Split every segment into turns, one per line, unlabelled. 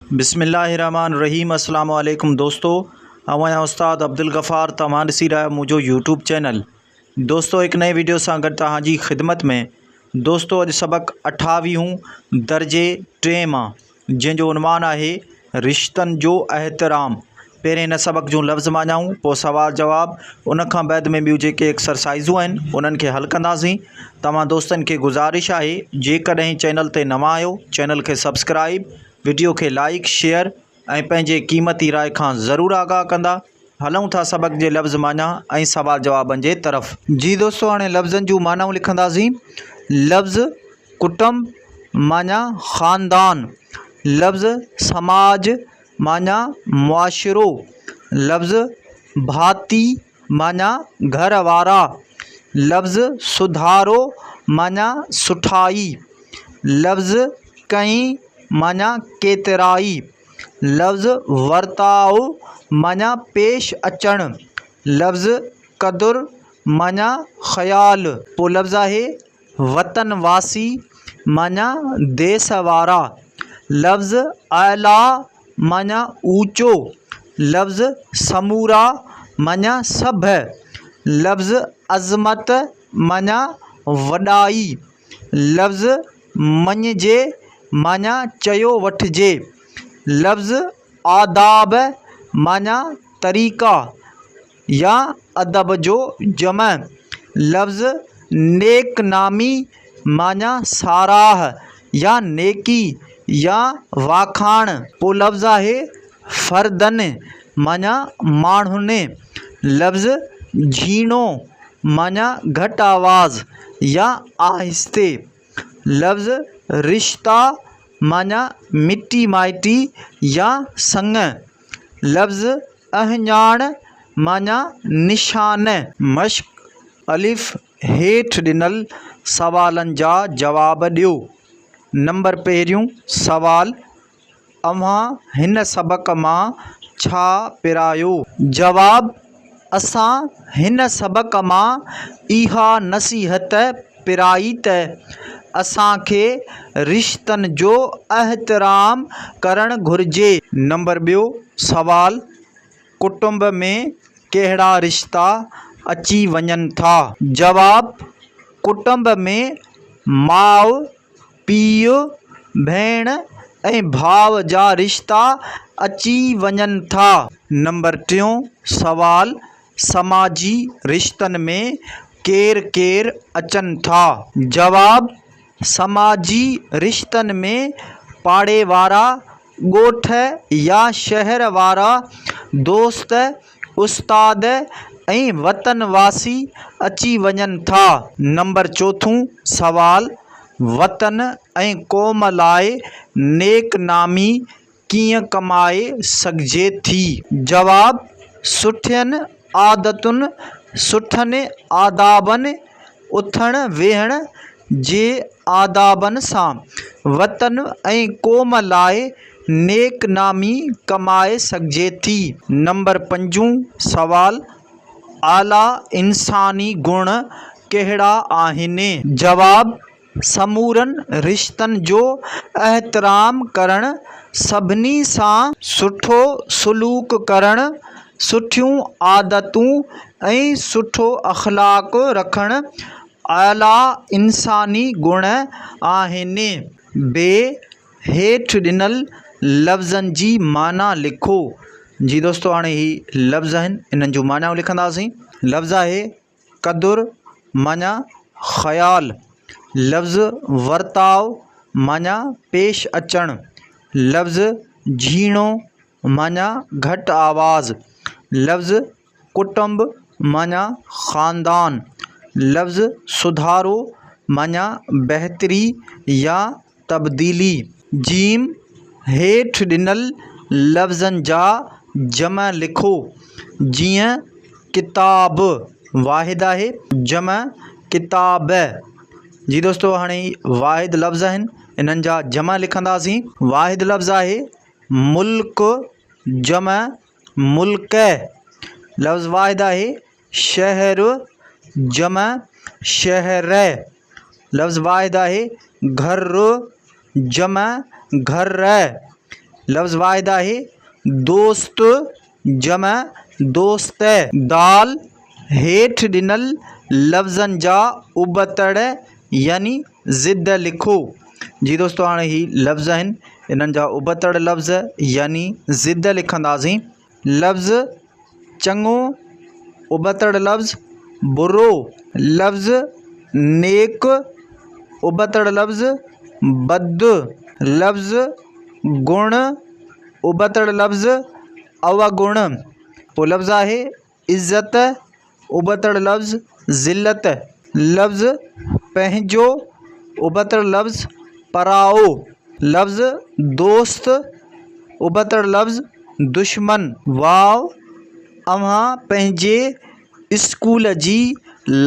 بسم الله الرحمٰن الرحيم السلام عليڪم دوستو آئون آهيان استاد عبدالغفار توهان ڏسي رهيا آهيو منهنجو يوٽيوب چينل دوستو هڪ نئين ويڊيو سان گڏ توهان جي خدمت ۾ دوستو اڄ سبق اٺاويهون درجي ٽئين مان جنهن جو عنوان آهي رشتن جو احترام پهرين هن سبق جون لفظ معنائون پوء سوال جواب ان کان بعد ۾ ٻيون جيڪي ايڪسرسائزون آهن انهن کي حل ڪنداسين توهان دوستن کي گذارش آهي جيڪڏهن چينل تي نوان آهيو چينل کي سبسڪرائيب وڊيو کي لائيڪ شيئر ۽ پنهنجي قيمتي راء کان ضرور آگاهه ڪندا هلون ٿا سبق جي لفظ معنيٰ ۽ سوال جوابن جي طرف جي دوستو هاڻي لفظن جون معنائون لکنداسين لفظ ڪٽنب معنيٰ خاندان لفظ سماج معنيٰ معاشرو، لفظ ڀاتي معنيٰ گهر وارا، لفظ سڌارو معنيٰ سٺائي، لفظ ڪئي معنيٰ ڪيترائي، لفظ ورتاء معنيٰ پيش اچڻ، لفظ قدر معنيٰ خيال. پوء لفظ آهي وطن واسي معنيٰ ديس وارا لفظ اعلٰي معنيٰ اوچو لفظ سمورا معنيٰ سڀ لفظ عظمت معنيٰ وڏائي لفظ مڃجي معنيٰ چيو وٺجي لفظ آداب معنيٰ طريقا يا ادب جو جمع لفظ نيڪنامي معنيٰ ساراهه يا نيڪي يا واکاڻ. پولفظ آهي فردن معنيٰ ماڻهن. لفظ جهيڻو معنيٰ گهٽ آواز يا آهستي. لفظ رشتا معنيٰ مٽي مائٽي يا سڱ. لفظ اهڃاڻ معني نشان. مشق، الف هيٺ ڏنل سوالن جا جواب ڏيو. نمبر پهريون سوال، اوهان هن سبق مان ڇا پرايو؟ جواب، اسان هن سبق مان اها نصيحت پرائي ته اسان کي رشتن جو احترام ڪرڻ گهرجي. نمبر ٻيو سوال، ڪٽنب ۾ ڪهڙا رشتا اچي وڃن ٿا؟ جواب، ڪٽنب ۾ ماء، پيء، ڀيڻ ۽ ڀاء جا رشتا اچي وڃن ٿا. نمبر ٽيون سوال، سماجي رشتن ۾ ڪير ڪير اچن ٿا؟ جواب، سماجي رشتن ۾ پاڙي وارا، ڳوٺ يا شهر وارا دوست، استاد ۽ وطن واسي اچي وڃن ٿا. نمبر چوٿون سوال، وطن ۽ قوم لاء نيڪ نامي ڪيئن ڪمائي سگهجي ٿي؟ جواب، سٺين عادتن، سٺن آدابن اٿڻ ويهڻ جي آدابن سان وطن ۽ قوم لاء نيڪ نامي ڪمائي سگهجي ٿي. نمبر پنجون سوال، اعليٰ انساني گڻ ڪهڙا آهن؟ جواب، سمورن رشتن جو احترام ڪرڻ، سڀني سان سٺو سلوڪ ڪرڻ، سٺيون عادتون ۽ سٺو اخلاق رکڻ اعليٰ انساني گڻ آهن. ب هيٺ ڏنل لفظن جي معنيٰ لکو جي دوستو هاڻي هي لفظ آهن انهن جون معنيٰ لکنداسين لفظ آهي قدر معنيٰ خيال، لفظ ورتاء معنيٰ پيش اچڻ، لفظ جهيڻو معنيٰ گهٽ آواز، لفظ ڪٽنب معنيٰ خاندان، لفظ سڌارو معنيٰ بهتري يا تبديلي. جيم، هيٺ ڏنل لفظن جا جمع لکو، جيئن، ڪتاب، واحد آهي، جمع، ڪتابء، جي دوستو هاڻي هي واحد لفظ آهن، انهن جا جمع لکنداسين. واحد لفظ آهي، ملڪ، جمع، ملڪء، لفظ واحد آهي، شهر، جمع شهرء، لفظ واحد آهي، گهر، جمع گهرء، لفظ واحد آهي، دوست، جمع دوستء. دال، هيٺ ڏنل لفظن جا ابتڙ يعني ضد لکو. جي دوستو هاڻي هي لفظ آهن انهن جا ابتڙ لفظ يعني ضد لکنداسين. لفظ چڱو، ابتڙ لفظ برو، لفظ نيڪ، ابتڙ لفظ بد، لفظ گڻ، ابتڙ لفظ اوگڻ، پوء لفظ آهي عزت ابتڙ لفظ ذلت لفظ پنهنجو ابتڙ لفظ پرائو لفظ دوست ابتڙ لفظ دشمن واو اوهان پنهنجي اسڪول جي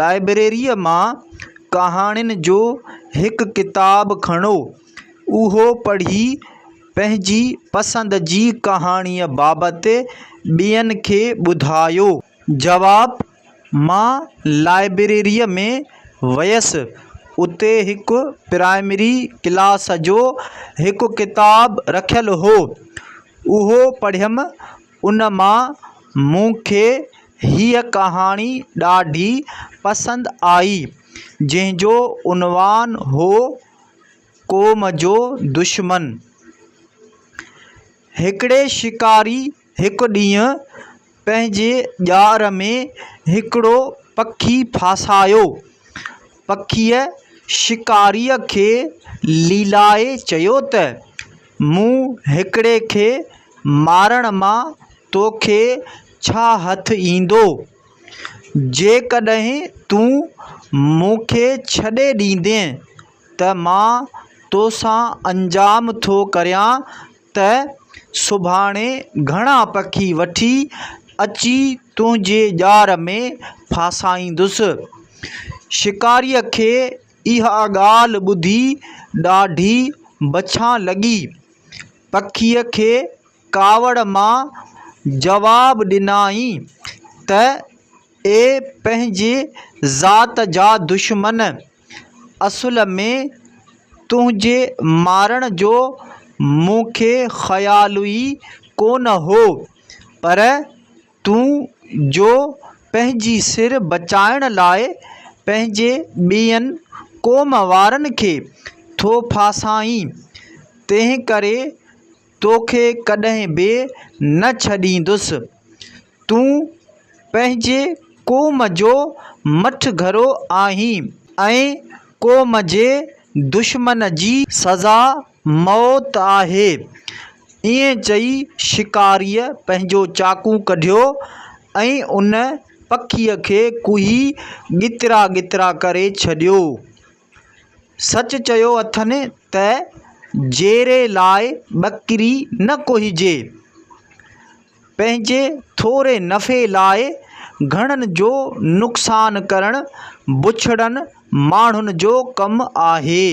لائبريريء مان ڪهاڻين جو هڪ ڪتاب کڻو اهو پڙهي پنهنجي پسند جي ڪهاڻيء بابت ٻين کي ٻڌايو. جواب، مان لائبريريء ۾ ويس. اتي هڪ پرائمري ڪلاس جو هڪ ڪتاب رکيل هو. اهو پڙهيم. ان مان مون کي هيء ڪهاڻي ڏاڍي پسند آئي، جنهن جو عنوان هو. قوم جو دشمن. هڪڙي شڪاري هڪ ڏينهن پنهنجي ڄار ۾ هڪڙو پکي ڦاسايو. پکيء شڪاريء کي ليلائي چيو ته، مون هڪڙي کي مارڻ مان توکي ڇا هٿ ايندو؟ جيڪڏهن تون مون کي ڇڏي ڏيندين ته مان توسان انجام ٿو ڪريان ته سڀاڻي گهڻا پکي وٺي اچي تنهنجي ڄار ۾ ڦاسائيندس شڪاريء کي اها ڳالهه ٻڌي ڏاڍي بڇان لڳي پکيء کي ڪاوڙ مان جواب ڏنائين ته اي پنهنجي ذات جا دشمن! اصل ۾ تنهنجي مارڻ جو مون کي خيال ئي ڪونه هو، پر تون جو پنهنجي سر بچائڻ لاء پنهنجي ٻين قوم وارن کي ٿو ڦاسائين، تنهنڪري توکي ڪڏهن به نه ڇڏيندس. تون پنهنجي قوم جو مٺ گهرو آهين ۽ قوم جي دشمن جي سزا موت آهي. ائين چئي شڪاريء پنهنجو چاقو ڪڍيو ۽ ان پکيء کي ڪوهي ڳترا ڳترا ڪري ڇڏيو. سچ چيو اٿن ته جيري لاء ٻڪري نه ڪوهجي. پنهنجي ٿوري نفعي لاء گهڻن جو نقصان ڪرڻ بڇڙن ماڻهن جو ڪم آهي.